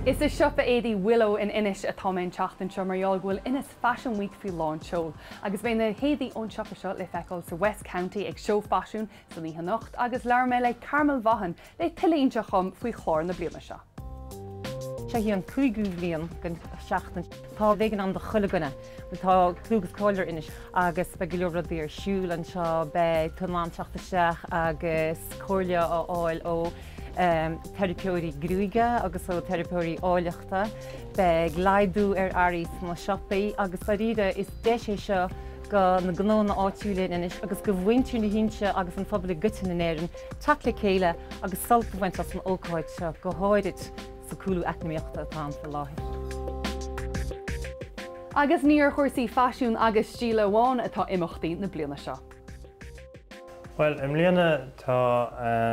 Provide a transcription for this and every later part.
Is i siopa éadaí Willow in Inis atá mé an tseachtain seo mar gheall go bhfuil Inis Fashion Week faoi lán tseoil. Agus beidh na héadaí ón siopa seo le feiceáil sa West County ag Seó Faisiún san oíche anocht agus labhair mé le Carmel Vaughan le tuilleadh a inseacht dhom faoi chlár na bliana seo. Seo í an cúigiú bliain den tseachtain. Tá beagán ann do chuile dhuine. Tá clú agus cáil ar Inis agus beidh go leor rudaí ar siúl anseo. Beidh tú in ann teacht isteach agus comhairle a fháil ó theiripeoirí gruaige agus ó theiripeoirí áilleachta. Beidh laghdú ar earraí sna siopaí agus dáiríre is deis é seo do na gnónna áitiúla in Inis agus do mhuintir na hInse agus an phobail i gcoitinne in Éirinn teacht le chéile agus sult a bhaint as an ócáid seo go háirid. sa chúlú eacnamaíochta atá ann faoi láthair. Agus ní ar chúrsaí faisiún agus stíle amháin atá imeachtaí na bliana seo. Bhuel, i mbliana tá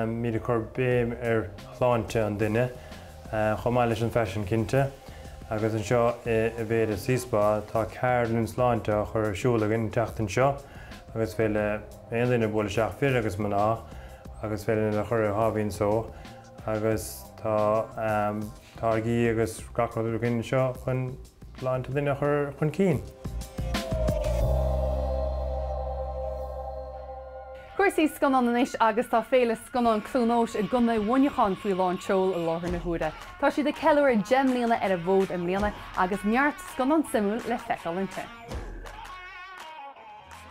muid ag cur béim ar shláinte an duine, chomh maith leis an faisean cinnte, agus anseo in Aveda C Spa tá ceardlann sláinte á chur ar siúl againn an tseachtain seo agus féidir le aon duine bualadh isteach, fir agus mná, agus féidir leo a chur ar sháimhín só. agus táirgí agus gach rud againn anseo chun sláinte duine a chur chun cinn. Cúrsaí scannán anois agus tá Féile Scannán Cluain Eois i gContae Mhuineacháin faoi lán tseoil i láthair na huaire. Tá siad ag ceiliúradh deich mbliana ar an bhfód i mbliana agus neart scannán suimiúil le feiceáil inti.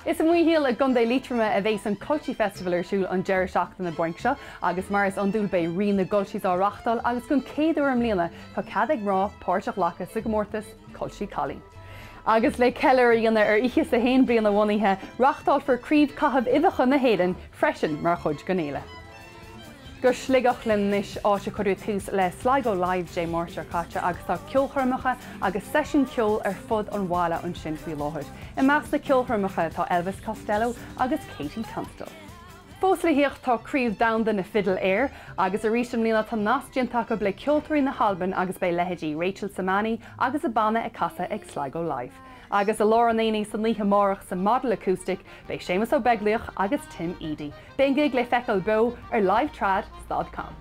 Is i Maothail i gContae Liatroma a bheas an Culchie Festival ar siúl an deireadh seachtaine bainc seo agus mar is iondúil beidh Rí na gCulchies á reáchtáil agus den chéad uair i mbliana tá cead ag mná páirt a ghlacadh sa gcomórtas Culchie Cailín. Agus le ceiliúradh a dhéanamh ar fhiche is a haon bliain a bhunaithe, reáchtálfar Craobh Caitheamh Uibheacha na hÉireann freisin mar chuid den fhéile. go Sligeach linn anois, áit a cuireadh tús le Sligo Live Dé Máirt seo caite agus tá ceolchoirmeacha agus seisiúin ceoil ar fud an bhaile ansin faoi láthair. I measc na ceolchoirmeacha tá Elvis Costello agus KT Tunstall. Fós le theacht tá Craobh Domhanda na Fidle Aeir agus arís i mbliana tá nasc déanta acu le ceoltóirí na hAlban agus beidh leithéidí Rachel Sermanni agus a banna ag casadh ag Sligo Live. Agus i lár an aonaigh san oíche amárach sa Model Acoustic beidh Séamus Ó Beaglaoich agus Tim Edey. Beidh an gig le feiceáil beo ar LiveTrad stad com.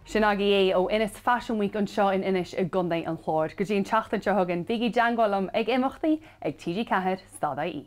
Sin agaibh é ó Inis Fashion Week anseo in Inis i gContae an Chláir. Go dtí an tseachtain seo chugainn, bígí i dteangmháil liom ag imeachtaí ag TG4 stad IE.